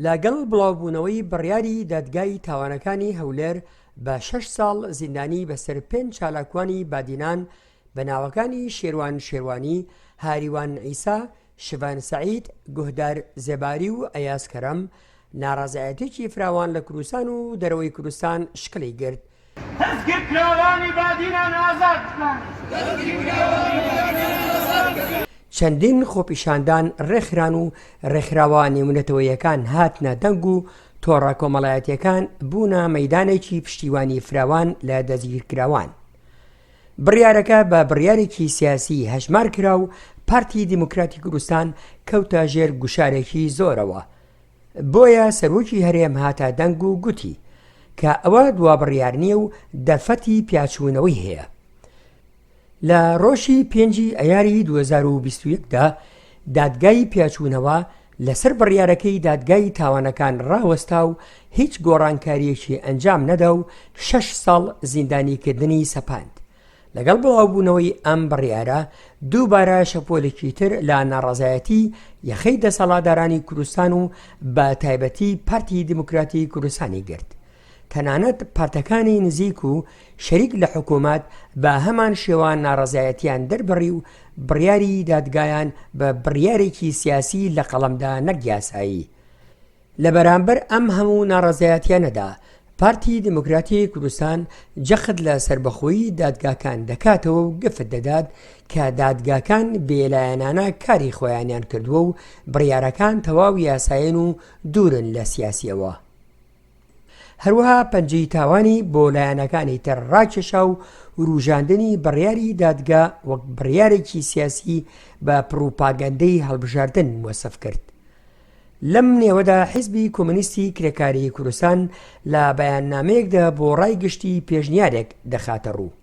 لەگەڵ بڵاوبوونەوەی بڕیاری دادگای تاوانەکانی هەولێر بە شەش ساڵ زیندانی بەسەر پێنج چالاکوانی بادینان بە ناوەکانی شێروان شێروانی، هاریوان عیسا، شڤان سەعید، گوهدار زێباری و ئەیاز کەرەم، ناڕەزایەتییەکی فراوان لە کوردستان و دەرەوەی کوردستان شکڵی گرت. دەستگیرکراوانی بادینان ئازاد بکەن. چەندین خۆپیشاندان ڕێکخران و ڕێکخراوە نێونەتەوەییەکان هاتنە دەنگ و تۆڕە کۆمەڵایەتییەکان بوونە مەیدانێکی پشتیوانی فراوان لە دەستگیرکراوان. بڕیارەکە بە بڕیارێکی سیاسی هەژمار کرا و پارتی دیموکراتی کوردستان کەوتە ژێر گوشارێکی زۆرەوە. بۆیە سەرۆکی هەرێم هاتە دەنگ و گوتی کە ئەوە دوابڕیار نییە و دەرفەتی پیاچوونەوەی هەیە. لە ڕۆژی پێنجی ئەیاری 2021دا دادگای پیاچوونەوە لەسەر بڕیارەکەی دادگای تاوانەکان ڕاوەستا و هیچ گۆڕانکاریەکی ئەنجام نەدا و شەش ساڵ زیندانیکردنی سەپاند لەگەڵ بڵاوبوونەوەی ئەم بڕیارە، دووبارە شەپۆلێکی تر لە ناڕەزایەتی یەخەی دەسەڵاتدارانی کوردستان و بە تایبەتی پارتی دیموکراتی کوردستانی گرت. تەنانەت پارتەکانی نزیک و شەریک لە حکوومەت بە هەمان شێوە ناڕەزایەتیان دەربڕی و بڕیاری دادگایان بە بڕیارێکی سیاسی لە قەڵەمدا نەک یاسایی لە بەرامبەر ئەم هەموو ناڕەزایەتیانەدا پارتی دیموکراتی کوردستان جەخت لە سەربەخۆیی دادگاکان دەکاتەوە و گفت دەدات کە دادگاکان بێلایەنانە کاری خۆیانیان کردووە و بڕیارەکان تەواو یاسایین و دوورن لە سیاسیەوە. هەروەها پەنجەی تاوانی بۆ لایەنەکانی تر ڕاکێشا و وروژاندنی بڕیاری دادگا وەک بڕیارێکی سیاسی بە پڕوپاگەندەی هەڵبژاردن وەسف کرد. لەم نێوەدا حیزبی کۆمۆنیستی کرێکاریی کوردستان لە بەیاننامەیەکدا بۆ ڕای گشتی پێشنیارێک دەخاتە ڕوو.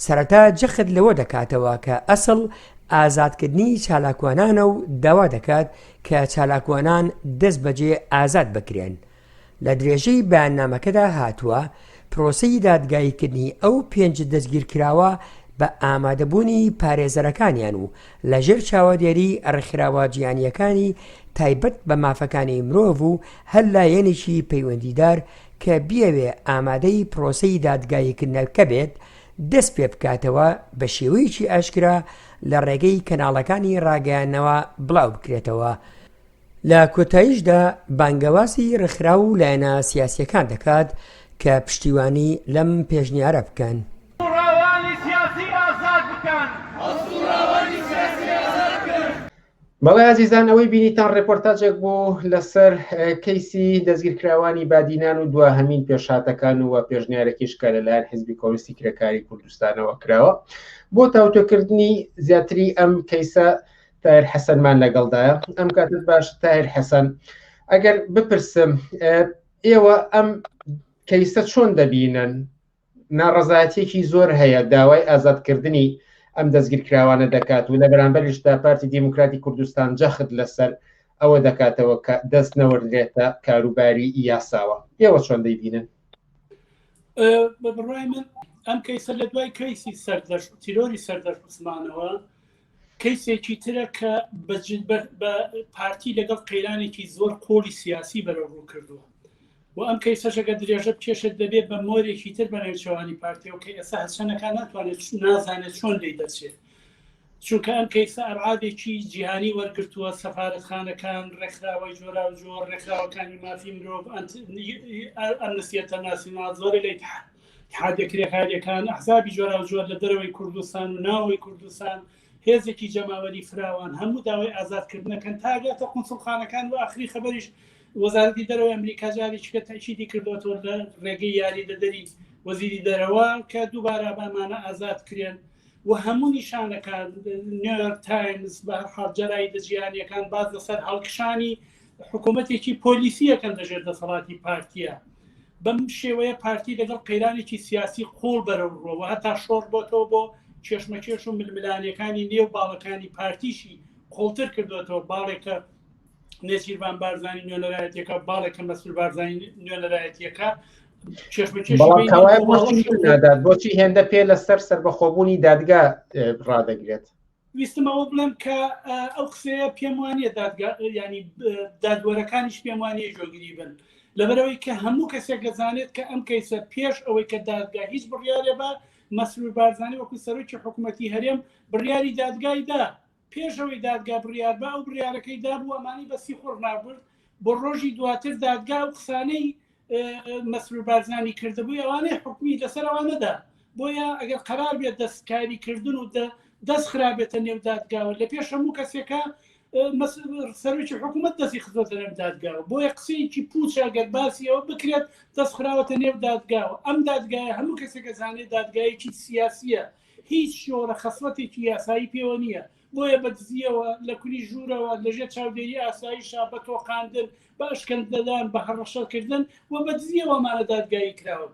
سەرەتا جەخت لەوە دەکاتەوە کە ئەسڵ ئازادکردنی چالاکوانانە و داوا دەکات کە چالاکوانان دەستبەجێ ئازاد بکرێن و لە درێژەی بەیاننامەکەدا هاتووە، پرۆسەی دادگاییکردنی ئەو پێنج دەستگیرکراوە بە ئامادەبوونی پارێزەرەکانیان و لەژێر چاوەدێریی ڕێکخراوە جیهانییەکانی تایبەت بە مافەکانی مرۆڤ و هەر لایەنێکی پەیوەندیدار کە بیەوێت ئامادەی پرۆسەی دادگاییکردنەکە بێت دەستپێبکاتەوە بەشێوەیەکی ئاشکرا لەڕێگەی کەناڵەکانی ڕاگەیاندنەوە بڵاوبکرێتەوە. لە کۆتاییشدا بانگەوازی ڕێکخراو و لایەنە سیاسییەکان دەکات کە پشتیوانی لەم پێشنیارە بکەن. بەڵێ ئازیزان ئەوەی بینیتان ڕێپۆرتاجێک بوو لەسەر کەیسی دەستگیرکراوانی بادینان و دواهەمین پێشهاتەکان و وە پێشنیارەکیش کە لەلایەن حزبی کۆنستی کرێکاری کوردستانەوە کراوە بۆ تاوتۆکردنی زیاتری ئەم کەیسە تایر حەسەنمان لەگەڵدایە ئەم کاتت باش تایر حەسەن ئەگەر بپرسم ئێوە ئەم کەیسە چۆن دەبینن ناڕزایەتێکی زۆر هەیە داوای ئازادکردنی ئەم دەستگیرکراوانە دەکات و لە بەرامبەرشدا پارتی دیموکراتی کوردستان جەخت لەسەر ئەوە دەکاتەوە کە دەست نەوەردرێتە کاروباری یاساوە ئێوە چۆن دەیبینن بە بڕای من ئەم کەیسە لە دوای کەیسی سەردەش تیرۆری سەردەش عوسمانەوە کەیسێکی ترە کە بە پارتی لەگەڵ قەیرانێکی زۆر قۆڵی سیاسی بەرەو ڕوو کردووە و ئەم کەیسەشەکە درێژە بکێشێت دەبێت بە مۆرێکی تر بە نێوچەوانی پارتیەوە کە ئێستا هەرچەنەکان ناتوانێت نازانێت چۆن لی دەچێت چونکە ئەم کەیسە ئەرعادێکی جیهانی وەرگتووە سەفاەتخانەکان ڕێکخراوەی جۆرا و جۆر ڕێکخراوەکانی مافی مرۆڤ ئەمنسیەتە ناسینا زۆری لەیتحان اتحادیە کرێکاریەکان، ئەحزابی جۆراوجۆر لە دەرەوەی کوردستان و ناوەوەی کوردستان، هێزێکی جەماوەری فراوان هەموو داوای ئازادکردن دەکەن تا گاتە قونسوڵخانەکان و ئاخری خەبەریش وەزارەتی دەرەوەی ئەمریکا جارێکیکە تاکیدی کردوەتەوە لە ڕێگەی یاری دەدەری وەزیری دەرەوە کە دووبارە بامانە ئازاد کرێن و هەموو نیشانەکان نیویۆرک تایمز بە هەرحاڵ جەرای دەجییانەکان باز لەسەر هەڵکشانی حکوومەتێکی پۆلیسیە کە لەژێر دەسەڵاتی پارتیە بەم شێوەیە پارتی لەگەڵ قەیرانێکی سیاسی قوڵ بەرەو ڕۆوە هەتا شۆڕ بۆتەوە بۆ کێشمەکێش و ململانەکانی نێو باڵەکانی پارتیشی قوڵتر کردوێتەوە باڵێکە نێچیربان بارزانانی نوێنەرایەتەکە باڵێکە مەسول بارزانانی نوێنەرایەتەکە بۆچی هێندە پێ لەسەر سەربەخۆبوونی دادگا ڕدەگرێت ویستم ئەوە بڵێم کە ئەو قسەیە پێم وانە دادگا ینی دادوەرەکانیش پێم وانە جۆگیری بن لەبەرەوەی کە هەموو کەسێک دەزانێت کە ئەم کەیسە پێش ئەوەی کە دادگا هیچ بڕیارێ بە مەسرور بارزانانی وەکو سەرۆکی حکوومەتتی هەرێم بڕیاری دادگایدا پێشەوەی دادگا بڕیار بە ئەو بڕیارەکەی دابوو ئەمانی بەسی خۆڕنابرد بۆ ڕۆژی دواتر دادگا و قسانەی مەسرور بارزانانی کردبووی ئەوانەی حکومی لەسەرەوە نەدا بۆیە ئەگەر قرار بێت دەستکاری کردن و دەست خراپێتە نێودادگاوە لە پێش هەموو کەسێکە سەرۆکی حکوومەت دەستی خزۆتە نێم دادگاوە بۆیە قسەیەکی پوچە گەر باسیەوە بکرێت دەست خراوەتە نێو دادگاوە ئەم دادگایە هەموو کەسێکە زانێت دادگایەکی سیاسیە هیچ شۆرە خەسڵەتێکی یاسایی پێوە نییە بۆیە بە دزییەوە لە کونی ژوورەوە لەژێ چاودێری ئاساییشا بە تۆقاندن بە ئەشکەندەدان بە هەڕەشەکردن و بە دزییەوەمانە دادگایی کراون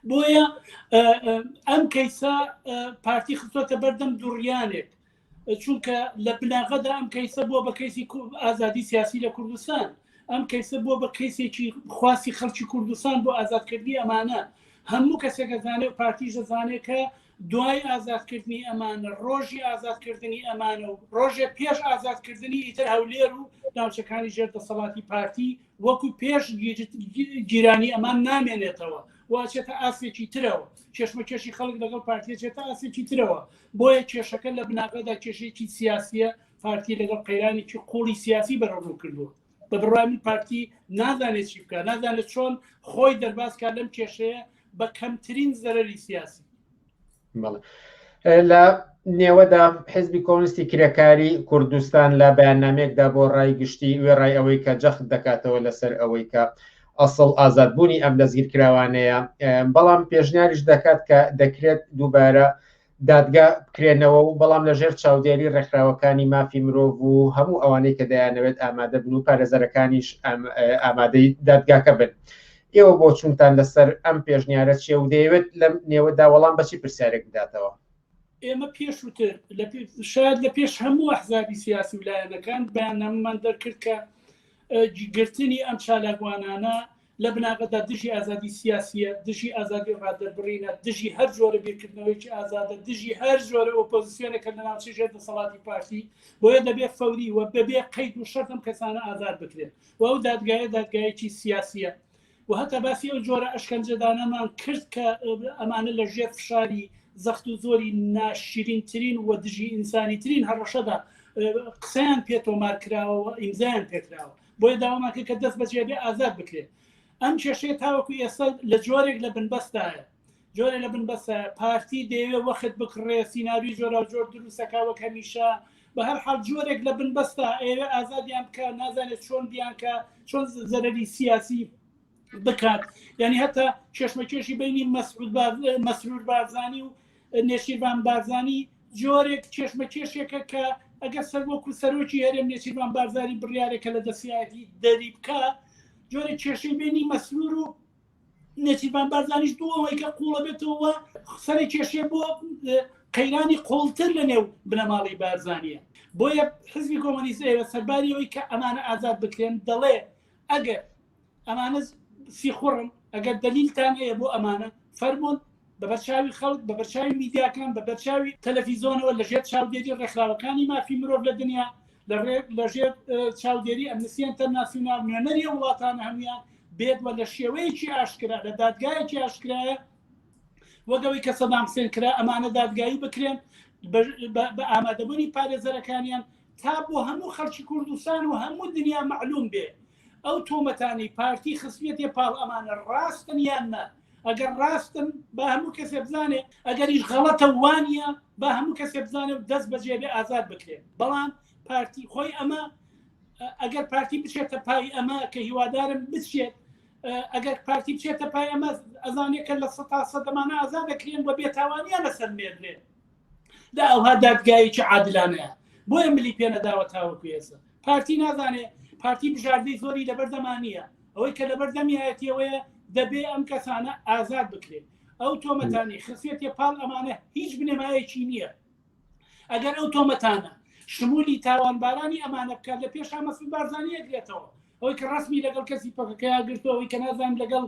بۆیە ئەم کەیسە پارتی خستۆتە بەردەم دوڕیانێک چونکە لە بناغەدا ئەم کەیسە بۆ بە کەیسی ئازادی سیاسی لە کوردستان ئەم کەیسە بۆ بە کەیسێکی خواستی خەڵکی کوردستان بۆ ئازادکردنی ئەمانە هەموو کەسێکەزانێت پارتیش دەزانێت کە دوای ئازادکردنی ئەمانە ڕۆژی ئازادکردنی ئەمانە و ڕۆژێ پێش ئازادکردنی ئیتر هەولێر و ناوچەکانی ژێر دەسەڵاتی پارتی وەکو پێش گیرانی ئەمان نامێنێتەوە واچێتە ئاسێکی ترەوە کێشمە کێشی خەڵک لەگەڵ پارتیە چێتە ئاسێکی ترەوە بۆیە کێشەکە لە بناغەدا کێشێکی سیاسیە پارتی لەگەڵ قەیرانێکی قوڵی سیاسی بەرەڕوو کردووە بە بڕای من پارتی نازانێت چی بکە نازانێت چۆن خۆی دەربازکە لەم کێشەیە بە کەمترین زەرری سیاسی لە نێوەدا حزبی کۆنستی کرێکاری کوردستان لە بەیاننامێکدا بۆ ڕای گشتی وێڕای ئەوەی کە جەخت دەکاتەوە لەسەر ئەوەی کە ئەسڵ ئازادبوونی ئەم دەستگیرکراوانەیە بەڵام پێشنیاریش دەکات کە دەکرێت دووبارە دادگا بکرێنەوە و بەڵام لە ژێر چاودێری ڕێکخراوەکانی مافی مرۆڤ و هەموو ئەوانەی کە دەیانەوێت ئامادە بن و پارێزەرەکانیش ئامادەی دادگاکە بن. ئێوە بۆ چونتان لەسەر ئەم پێشنیارە چێ و دەیەوێت لەم نێوەدا وەڵام بەچی پرسیارێک بداتەوە. ئێمە پێشوتر شاید لە پێش هەموو ئەحزابی سیاسی و لایەنەکان بەیاننامەمان دەرکرد کە گرتنی ئەم چالاکوانانە لە بناغەدا دژی ئازادی سیاسییە، دژی ئازادی ڕادەربڕینە، دژی هەر جۆرە بیرکردنەوەیەکی ئازادە، دژی هەر جۆرە ئۆپۆزسیۆنێکە لە ناوچەی ژێر دەسەڵاتی پارتی، بۆیە دەبێت فەوری و بەبێ قەید و شەرت ئەم کەسانە ئازاد بکرێن و ئەو دادگایە دادگایەکی سیاسییە و هەتا باسی ئەو جۆرە ئەشکەنجەدانەمان کرد کە ئەمانە لە ژێر فشاری زەخت و زۆری ناشرینترین و دژی ئینسانیترین هەڕەشەدا قسەیان پێ تۆمار کراوە و ئیمزایان پێکراوە بۆیە داوامان کرد کە دەست بەجێ بێ ئازاد بکرێت ئەم کێشەیە تاوەکو ئێستا لە جۆرێک لە بنبەستایە جۆرە لە بنبەسە پارتی دەیەوێ وەخت بکڕێ سینناوی جۆرا جۆر دروستەکەوە کەمیشە بە هەر حال جۆرێک لە بنبەستا ئێوە ئازادیان بکە نازانێت چۆن بیانکە چۆن زەرری سیاسی بکات یعنی هەتا کێشمەکێشی بینی مەسرود مەسرور بارزانانی و نێچیرڤان بارزانی جۆرێک کێشمەکێشێکە کە ئەگەر سەر وەکو سەرۆکی هەرێم نێچیرمان بارزاری بڕارێکە لە دەسیایەتی دەری بکە جۆرە کێشەی بینی مەسرور و نێچیرمان بارزانیش بۆ ئەوەی کە قوڵە بێتەوە سەری کێشێ بۆ قەیرانی قوڵتر لە نێو بنەماڵی بارزانە بۆیە حزبی کۆمەنیست ئێرە سەرباریەوەی کە ئەمانە ئازاد بکرێن دەڵێ ئەگەر ئەمانە سیخوڕن ئەگەر دەلیلتان هەیە بۆ ئەمانە فەرمونون بە بەرچاوی خەڵک بە بەرچاوی میدیاکان بە بەرچاوی تەلەفیزۆنەوە لەژێر چاودێری ڕێکخراوەکانی مافی مرۆڤ لە دنیا لە ڕێ لەژێر چاودێری ئەمنسیەن تەناسیونال نوێنەری وڵاتانە هەموان بێت وە لە شێوەیەکی ئاشکرا لە دادگایەکی ئاشکرایە وەگەوەی کە سەدام حسێن کرا ئەمانە دادگایی بکرێن بە ئامادەبوونی پارێزەرەکانیان تا بۆ هەموو خەڵکی کوردستان و هەموو دنیا مەعلوم بێ ئەو تۆمەتانی پارتی خستێتێ پاڵ ئەمانە ڕاستن یان نە ئەگەر ڕاستن بە هەموو کەسێ بزانێ ئەگەریش غەڵەتە وانە بە هەموو کەسێ بزانێ و دەست بەجێ بێ ئازاد بکرێن بەڵام پارتی خۆی ئەمە ئەگەر پارتی بچێتە پای ئەمە کە هیوادارم بچێت ئەگەر پارتی بچێتە پای ئەمە ئەزانێکە لە سە تا سەدەمانە ئازاد دەکرێن بە بێتاوانیان لەسەر مێردێن دا ئەوها دادگایەکی عادلانەیە بۆیە ملی پێنەداوە تاوەکو ئێستا پارتی نازانێ پارتی بژاردەی زۆری لەبەردەمانە ئەوەی کە لەبەر دەمیایەتیەوەیە دەبێ ئەم کەسانە ئازاد بکرێت ئەو تۆمەتانی خسیەتە پاڵ ئەمانە هیچ بنەمایەکی نییە ئەگەر ئەو تۆمەتانە شمولی تاوانبارانی ئەمانە بکات لە پێشا مەسل بارزانانی ئەگرێتەوە ئەوەی کە ڕسمی لەگەڵ کەسی پەکەکەیا گرتەوەی کە نازان لەگەڵ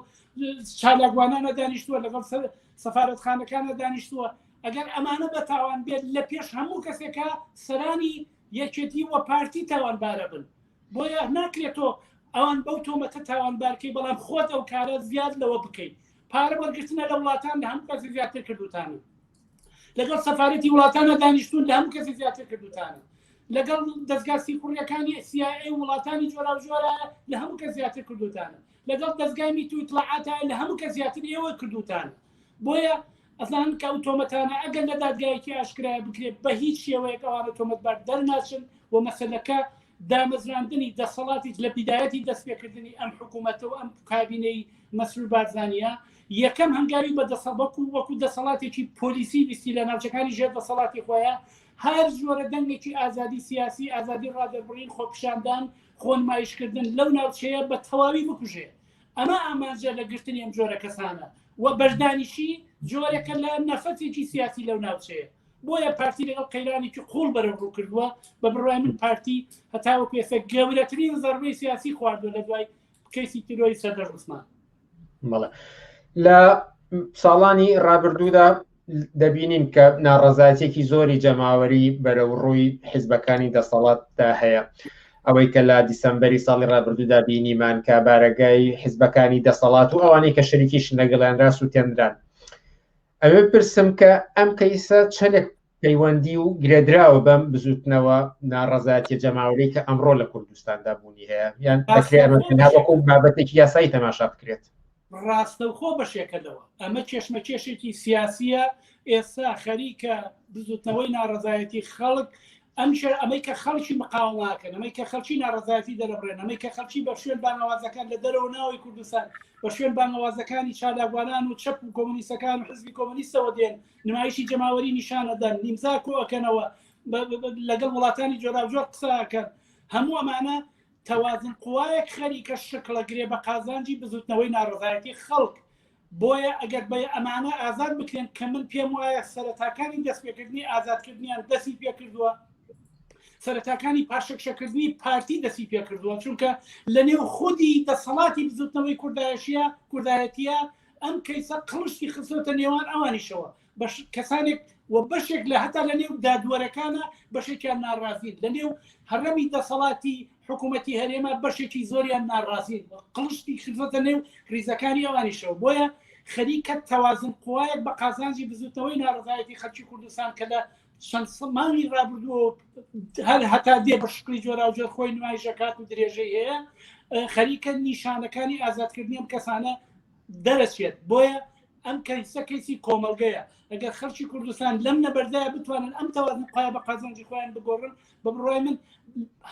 چالاکوانانە دانیشتووە لەگەڵ سەفاەتخانەکانە دانیشتووە ئەگەر ئەمانە بە تاوان بێت لە پێش هەموو کەسێکە سەرانی یەکێتی وە پارتی تاوانبارە بن بۆیە ناکرێتۆ ئەوان بەو تۆمەتە تاوانبارکەی بەڵام خۆت ئەو کارە زیاد لەوە بکەیت پارە وەرگرتنە لە وڵاتان لە هەموو کەسی زیاتر کردوتانە لەگەڵ سەفاەتی وڵاتانە دانیشتون لە هەموو کەسی زیاتر کردوتانە لەگەڵ دەستگاسی کوڕیەکانی سیای وڵاتانی جۆرا جۆرە لە هەموو کە زیاتر کردوتانە لەگەڵ دەستگای میتویتڵعاتە لە هەموو کە زیاتر ئێوە کردوتانە بۆیە ئەزانن کە ئەو تۆمەتانە ئەگەر لە دادگایەکی ئاشکرایە بکرێت بە هیچ شێوەیەک ئەوانە تۆمەتبار دەرناچن و مەسەلەکە دامەزراندنی دەسەڵاتی لە بیدایەتی دەستپێکردنی ئەم حکوومەتەوە ئەم کابینەی مەسرور بارزانانە یەکەم هەنگاوی بە دەسەڵبەکو وەکو دەسەڵاتێکی پۆلیسی ویستی لە ناوچەکانی ژێر دەسەڵاتی خۆیان هەر زۆرە دەنگێکی ئازادی سیاسی ئازادی ڕادەربڕین خۆپشاندان خۆنمایشکردن لەو ناوچەیە بە تەواوی بکوژێ ئەمە ئامانجە لە گرتنی ئەم جۆرە کەسانە و بەشدانیشی جۆرەکە لە نەفەتێکی سیاسی لەو ناوچەیە بۆیە پارتی لەگەڵ قەیرانێکی قوڵ بەرە ڕوو کردووە بە بڕای من پارتی هەتاوە پێسە گەورەترین زەربەی سیاسی خواردوە لە دوای کەسی تیرۆی سەردەر عوسمان بەڵێ لە ساڵانی ڕابردوودا دەبینین کە ناڕزایەتێکی زۆری جەماوەری بەرەو ڕووی حیزبەکانی دەسەڵاتدا هەیە ئەوەی کە لە دیسمبری ساڵی ڕابردوودا بینیمان کە بارەگای حیزبەکانی دەسەڵات و ئەوانەی کە شەریکیش لەگەڵیان راست و تێنران ئەوێ پرسم کە ئەم کەیسە چەندێک پەیوەندی و گرێدراوە بەم بزوتنەوە ناڕزایەتی جەماوەری کە ئەمڕۆ لە کوردستاندا بوونی هەیە یان بەکرێمەکو بابەتێکی یاسایی تەماشا بکرێت ڕاستەوخۆ بەشێکە لەوە ئەمە کێشمەکێشێکی سیاسیە ئێستا خەریکە بزوتنەوەی ناڕزایەتی خەڵک ئەم شەر ئەمەی کە خەڵکی مقاوماکەن ئەمەی کە خەڵکی ناڕزایەتی دەرەبرێن ئەمەی کە خەڵکی بە شوێن بانەوازەکان لە دەرەوە ناوی کوردستان بە شوێن بانەوازەکانی چالاگوانان و چەپ و کۆمونیستەکان و حزبی کۆمونیستەوە دێن نمایشی جەماوەری نیشانەدەن نیمزا کۆەکەنەوە لەگەڵ وڵاتانی جۆراوجۆر قساکەن هەموو ئەمانە تەوازن قوایەک خەریکە شکڵە گرێ بە قازانجی بزوتنەوەی ناڕزایەتی خەڵک بۆیە ئەگەر بە ئەمانە ئازاد بکرێن کە من پێم وایە سەرەتاکانی دەستپێکردنی ئازادکردنیان دەستی پێکردووە سەرەتاکانی پاشەکشەکردنی پارتی دەستی پێکردووە چونکە لە نێو خودی دەسەڵاتی بزوتنەوەی کوردایشیە کوردایەتە ئەم کەیسە قڵشتی خستۆتە نێوان ئەوانیشەوە کەسانێک و بەشێک لە هەتا لە نێو دادوەرەکانە بەشێکیان ناڕازین لە نێو هەرەمی دەسەڵاتی حکوومەتتی هەرێمە بەشێکی زۆریان ناڕازین قڵشتی خزەتە نێو ریزەکانی ئەوانیشەوە بۆیە خەریکە تەوازن قوایەک بە قازانجی بزوتنەوەی ناڕزایەتی خەلکی کوردستان کە لە چەند سەمانی رابردووە هەر هەتا دێ بە شکلی جۆراوجۆر خۆی نمایشەکات و درێژەی هەیە خەریکە نیشانەکانی ئازادکردنیم کەسانە دەرەچێت بۆیە ئەم کەیسە کەیسی کۆمەڵگەیە ئەگەر خەرکی کوردستان لەم نەبەردایە بتوانن ئەم تەوازن قای بە قازانجی خۆیان بگۆڕن بە بڕای من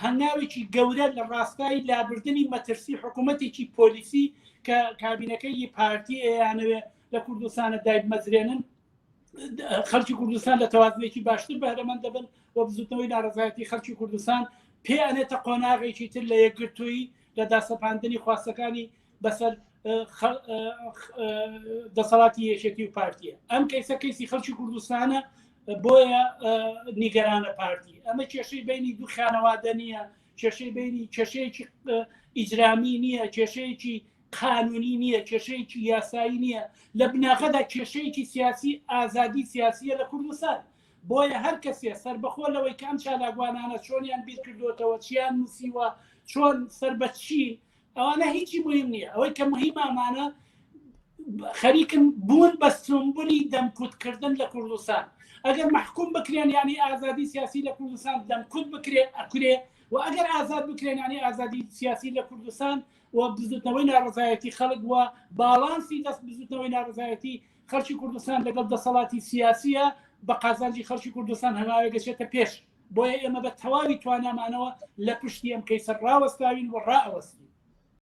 هەناوێکی گەورە لە ڕاستایی لابردنی مەترسی حکوومەتێکی پۆلیسی کە کابینەکەی پارتی ئەیانەوێ لە کوردستانە دایب مەزرێنن خەرکی کوردستان لە تەوازنێکی باشتر بەرەمەند دەبن و بزوتنەوەی ناڕزایەتی خەرکی کوردستان پێ ئەنێتە قۆناغێکی تر لە یەکگرتووی لە داسەپاندنی خواستەکانی بەسەر دەسەڵاتی یەکێتی و پارتیە ئەم کەیسە کەیسی خەڵکی کوردستانە بۆیە نیگەرانە پارتی ئەمە کێشەی بینی دوو خانەوادە نییە کێشەی بینی کێشەیەکی ئیجرامی نییە کێشەیەکی قانونی نییە کێشەیەکی یاسایی نییە لە بناغەدا کێشەیەکی سیاسی ئازادی سیاسیە لە کوردستان بۆیە هەر کەسێ سربەخۆ لەوەی کام چالاگوانانە چۆنیان بیرکردوتەوە چیان نووسیوە چۆن سەر بە چین ئەوانە هیچی مهم نییە ئەوەی کە مهمە ئەمانە خەریکن بوون بە سمبولی دەمکوتکردن لە کوردستان ئەگەر محکوم بکرێن ینی ئازادی سیاسی لە کوردستان دەمکوت بکرێ ئەکرێ و ئەگەر ئازاد بکرێن ینی ئازادی سیاسی لە کوردستان و بزوتنەوەی ناڕزایەتی خەڵک وە باڵانسی دەست بزوتنەوەی ناڕزایەتی خەڵکی کوردستان لەگەڵ دەسەڵاتی سیاسیە بە قازانجی خەڵکی کوردستان هەناوێ گەشێتە پێش بۆیە ئێمە بە تەواوی توانامانەوە لە پشتی ئەم کەیسە ڕاوەستاوین و ڕائەوەستین.